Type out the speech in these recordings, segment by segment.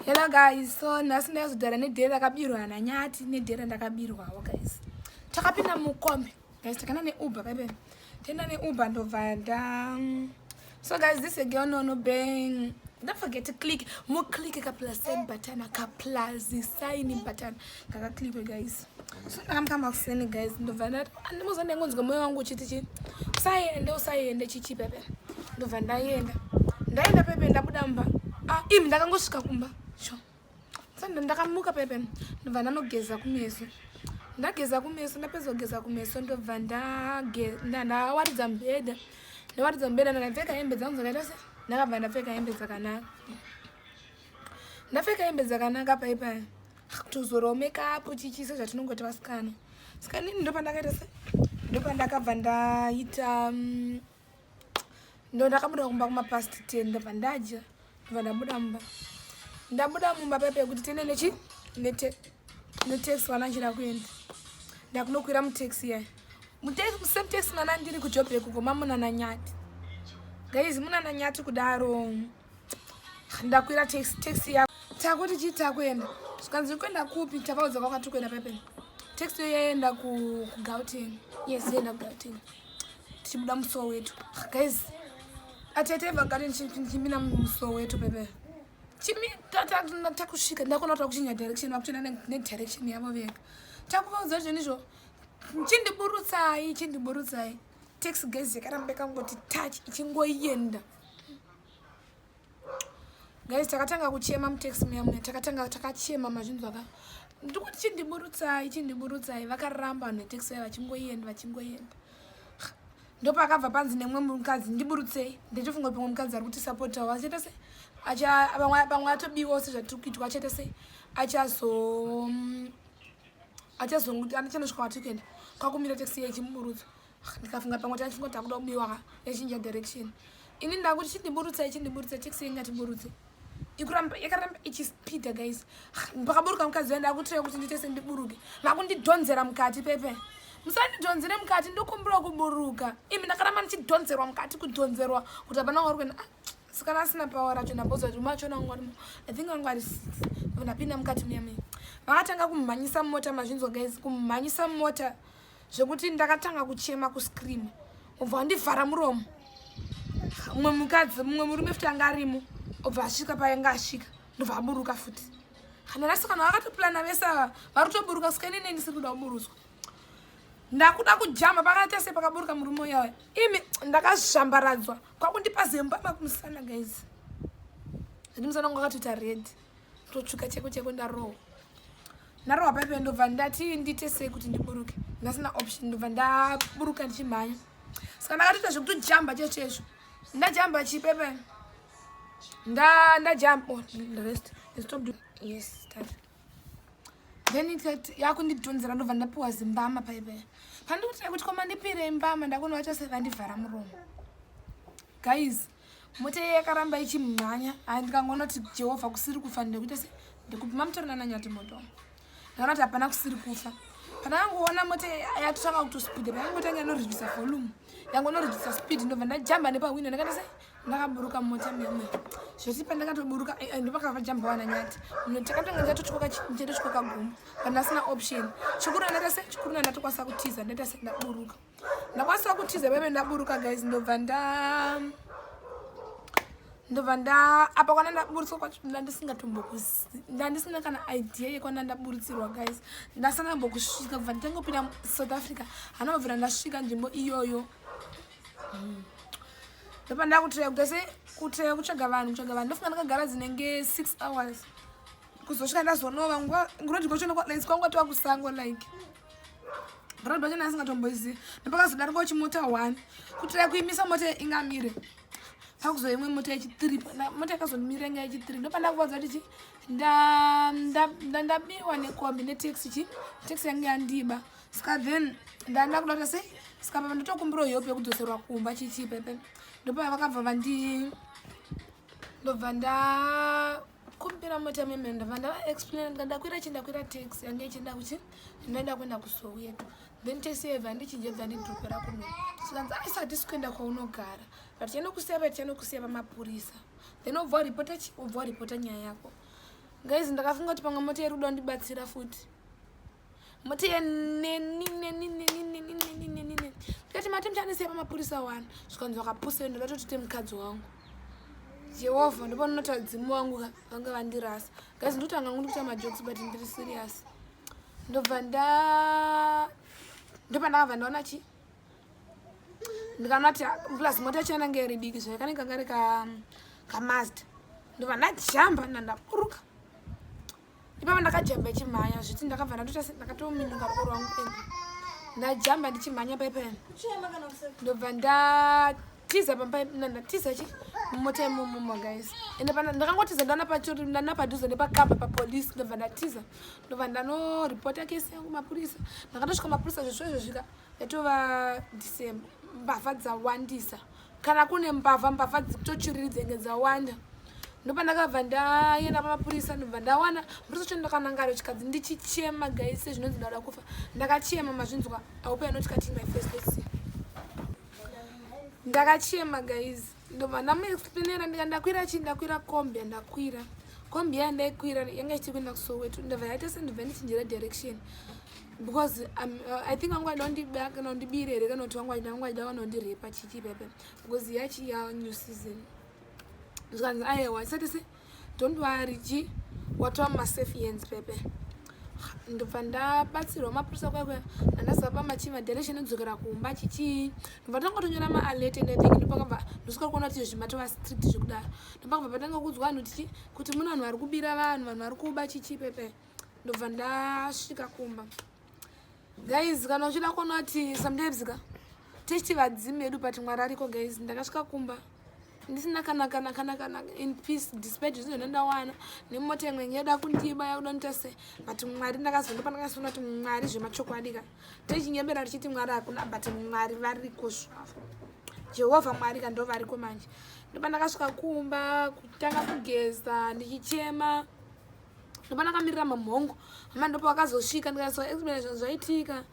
hello guys so nhasi ndaizodhara nedheri rakabirwa hana nyati nedheri randakabirwawo guys takapinda mukombi guys takana neuber paipe tenda neuber ndobva nda mm, so guys this again no no bang don't forget to click moclick ka plus sign button ka plus sign button kaka click guys so ndakamuka makuseni guys ndobva ndati andimuza ndaingonzwa moyo wangu uchiti chii usaiende usaiende chichi pepe ndobva ndaienda ndaenda pepe ndabuda mumba ah, im ndakangosvika kumba sho sanda ndakamuka pepe ndobva ndanogeza kumeso ndageza kumeso ndapedza kugeza kumeso ndobva ndawaridza mubhedha ndawaridza mubhedha ndakapfeka hembe dzangu dzakaita se ndakabva ndapfeka hembe dzakanaka ndapfeka hembe dzakanaka pai pai kutozorawo makeup chichise zvatinongoti vasikana saka nini ndopandakaita se ndopandakabva ndaita mm, ndo ndakabuda kumba kumapast ten ndobva ndadya ndobva ndabuda mumba ndabuda mumba pai pekuti tene nechi netaxi wanachira kuenda ndakunokwira mutaxi yayo same taxi mwana ndiri kujob yekuko mamunana nyati gaizi munana nyati kudaro ndakwira taxi taxi yako takuti chii takuenda zvikanzi kuenda kupi tavaudza kwakati kuenda pepeni taxi yo yaenda kugauteni yes yaenda kugauteni tichibuda musowo wetu guys atete vagari ndichimina musowo wetu pepe takusvika ndakona kuti vakuchinja direction vakutoenda nedirection yavo vega takuvaudza zvinhu izvo chindiburutsai chindiburutsai taxi guys yakaramba yakangoti touch ichingoenda guys takatanga kuchema mutaxi muya muya takatanga takachema mazvinzwa ka ndikuti chindiburutsai chindiburutsai vakaramba vanhu vetaxi vaya vachingoenda vachingoenda ndopakabva panzi nemumwe mukadzi ndiburutsei ndichifunga kuti pamwe mukadzi ari kuti sapotawo achaita se pamwe atobiwawo sezvatiri kuitwa achaita se achazo mm, achazonguti anochanosvika kwatiri kuenda kwakumira taxi iya ichimuburutsa ndikafunga pamwe taifunga takuda kubiwa ka yachinja direction ini ndakuti chindiburutsa ichindiburutsa taxi ingatiburutse ikuramba yakaramba ichispeeda guys pakaburuka mukadzi waye ndakutira kuti ndiite sendiburuke makundidhonzera mukati pepe musandidhonzere mukati ndokumbira kuburuka imi ndakaramba ndichidhonzerwa mukati kudhonzerwa kuti hapana wari kuenda ah, sikana asina pawa racho ndamboziva kuti machona wangu arimo i think wangu ari ndapinda mukati muyamei vakatanga kumhanyisa mumota mazvinzwa guys kumhanyisa mumota zvekuti ndakatanga kuchema kuscream obva andivhara muromo mumwe mukadzi mumwe murume futi anga arimo obva asvika paanga asvika ndobva aburuka futi kana vasikana vakatoplana vese ava vari kutoburuka sika ini neni siri kuda kuburutswa ndakuda kujamba pakaita se pakaburuka murume uyaya imi ndakazvambaradzwa kwakundipa zemba makumusana guys zvendi musana kwakatoita redi totsvuka cheko cheko ndarowa ndarowa paipe ndobva ndati ndiite sei kuti ndiburuke ndasina option ndobva ndaburuka ndichimhanya saka ndakatoita zvekutijamba chese chezvo ndajamba chipepe ndajamba oh, rest stop doing yes start then ikati yakundidhonzera ndobva ndapiwa zimbama paipe pandikuti kuti koma ndipire imbama ndakunovacha sevandivhara muromo guys mota iye yakaramba ichimhanya hai ndikangonoti jehovha kusiri kufa ndekuita se ndekupi mamutorina nanyati moto ndakaona kuti hapana kusiri kufa kana yangoona mota yatotanga kutospida payangotanga inoridvisa volume yangonoridvisa speed ndobva ndajamba nepahwindo ndakaita se ndakaburuka mota meme zvekuti pandakatoburuka eh, eh, ndopakava jamba wana nyati takatonga ndatotyokachatotyokagumba kana asina option chikuru andaita se chikuru andatokwanisa kutiza ndaita se ndaburuka ndakwanisa kutiza veve ndaburuka guys ndobva nda ndobva nda apa kwana ndaburitswa kwacho ndandisingatombokuandisina kana idea yekwana ndaburitsirwa guys ndasana mbokusvika kubva nditangopinda south africa hanobvira ndasvika nzvimbo iyoyo hmm. ndobva ndakutiraya kugese kutiraya kutsvaga vanhu kutsvaga vanhu ndofunga ndakagara dzinenge six hours kuzosvika ndazonova nguva ngunoti kwacho nokwaisi kwanga tova kusango like brod bacho naasingatomboizivi ndopakazodarikawo chimota one kutira kuimisa mota ingamire pakuzo imwe mota yechithree mota yakazomira yanga yechithree ndopandakuvaza kuti chi ndabiwa nekombi netaxi chi taxi yange yandiba ska then ndanda kuda kuti sei ska papa ndotokumbira hope yekudzoserwa kumba chichipepe ndopavakabva vandi ndobva nda kumbira mota meme ndava ndava explain ndandakwira chindakwira tax yange ichienda kuchi ndinoenda kuenda kusoweto then taxi yaiva ndichinje bva ndidhokora kuno sikanzi aisa hatisi kuenda kwaunogara but tiende kusiya pa tiende kusiya pamapurisa then obva waripota chi obva waripota nyaya yako guys ndakafunga kuti pamwe mota yerudo ndibatsira futi mutiye ndikati mati muchandisiya pamapurisa wani zvikanzi vakapusira ndakatotite mukadzi wangu jehovha ndopanonotaura dzimu wangu ka vange vandirasa gazi ndotanga ngu ndikuita majokes but ndiri serious ndobva nda ndopandakabva ndaona chi ndikanoti plus mota yacho yanange iri diki zvaikane kanga ri kamazda ndobva ndajamba ndandaburuka ipapa ndakajamba ichimhanya zviti ndakabva ndakatominyuka ruko rwangu and ndajamba ndichimhanya paipaya ndobva ndatiza pamndatiza chi mumota imumuma guys ende pana ndakangotiza ndana pachori ndana padhuze nepakamba papolice ndobva ndatiza ndobva ndanoreporta kesi yangu mapurisa ndakatosvika mapurisa zvesvo izvo zvika yatova december mbavha dzawandisa kana kune mbavha mbavha dzitochiriri dzenge dzawanda ndopandakabva ndaenda pamapurisa ndobva ndawana murisa cho ndakanangara chikadzi ndichichema guys sezvinonzi ndauda kufa ndakachema mazvinzwa aupe anoti kati my first lesi ndakachema guys ndobva ndamuexplainera ndika ndakwira chii ndakwira kombi yandakwira kombi yaya ndaikwira yanga ichiti kuenda kusoweto ndobva yaita sendobva ndichinjira direction because um, uh, i think vanga vaida kana undibire here kana kuti vanga vaida vanga vaida vanondirepa chichi pepe because yachi ya new season zvikanzi ayewa isati se don't worry chi watova masafe hands pepe ndobva ndabatsirwa mapurisa kwaikuya andazapa machi madiration ekudzokera kumba chichii ndobva tanga tonyora maalert and i think ndopakabva ndosvika kuona kuti izvi matova strict zvekudaro ndopakabva patanga kuudzwa vanhu tichi kuti mune vanhu vari kubira vanhu vanhu vari kuba chichii pepe ndobva ndasvika kumba guys kana uchida kuona kuti sometimes ka tichiti vadzimi vedu but mwari ariko guys ndakasvika kumba ndisina kana kana kana kana in peace despite zvinhu zvine ndawana nemota imwe ngeda kundiba yakuda nita se but mwari ndakazondopa ndakazoona kuti mwari zvemachokwadi ka tichinyembera tichiti mwari hakuna but mwari variko zvavo jehovha mwari ka ndovariko manje ndopa ndakasvika kumba kutanga kugeza ndichichema ndopana kamirira mamhongo mama ndopa wakazosvika ndikaso explanation zvaitika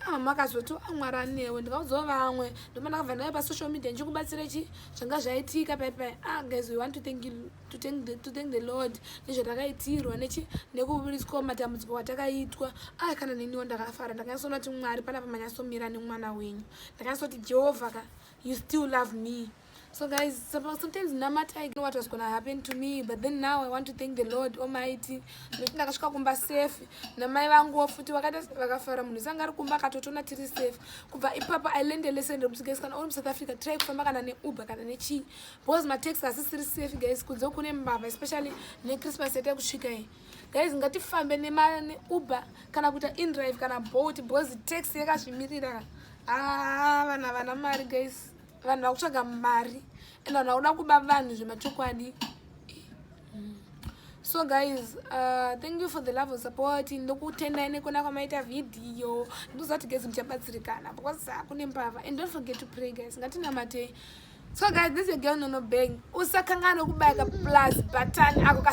ah, mama akazoti amwari ah, anewe ndikaudzawo vamwe ndopana kabva ndave pasocial media ndichikubatsira chi zvanga zvaitika paipai ah guys we want to thank, you, to thank, the, to thank the lord nezvatakaitirwa nechi nekuburiswa matambudziko watakaitwa ah kana neniwo ndakafara ndakanyasona kuti mwari panapa manyasomira nemwana wenyu ndakanyasoti jehovha ka you still love me So guys, sometimes namata I know what was gonna happen to me, but then now I want to thank the Lord Almighty. Nekuti ndakasvika kumba safe namai vangu futi vakaita vakafara munhu sanga ari kumba akatotona tiri safe. Kubva ipapa I learned a lesson rekuti guys kana uri muSouth Africa try kufamba kana neuber kana nechii because matax asisiri safe guys kunze kune mbavha especially nechristmas yata kusvika iyi. Guys ngatifambe neuber kana kuita indrive kana boat because tax yakazvimirira. Ah, vana vana mari guys. vanhu vakutsvaga mari and vanhu vakuda kuba vanhu zvemachokwadi so guys uh, thank you for the love of support ndokutendai nekona kwamaita vhidhiyo ndozati guys muchabatsirikana because kune mbavha and don't forget to pray guys ngatinamate so guys this is your girl nono bang usakanganwe kubaya ka plus button ako ka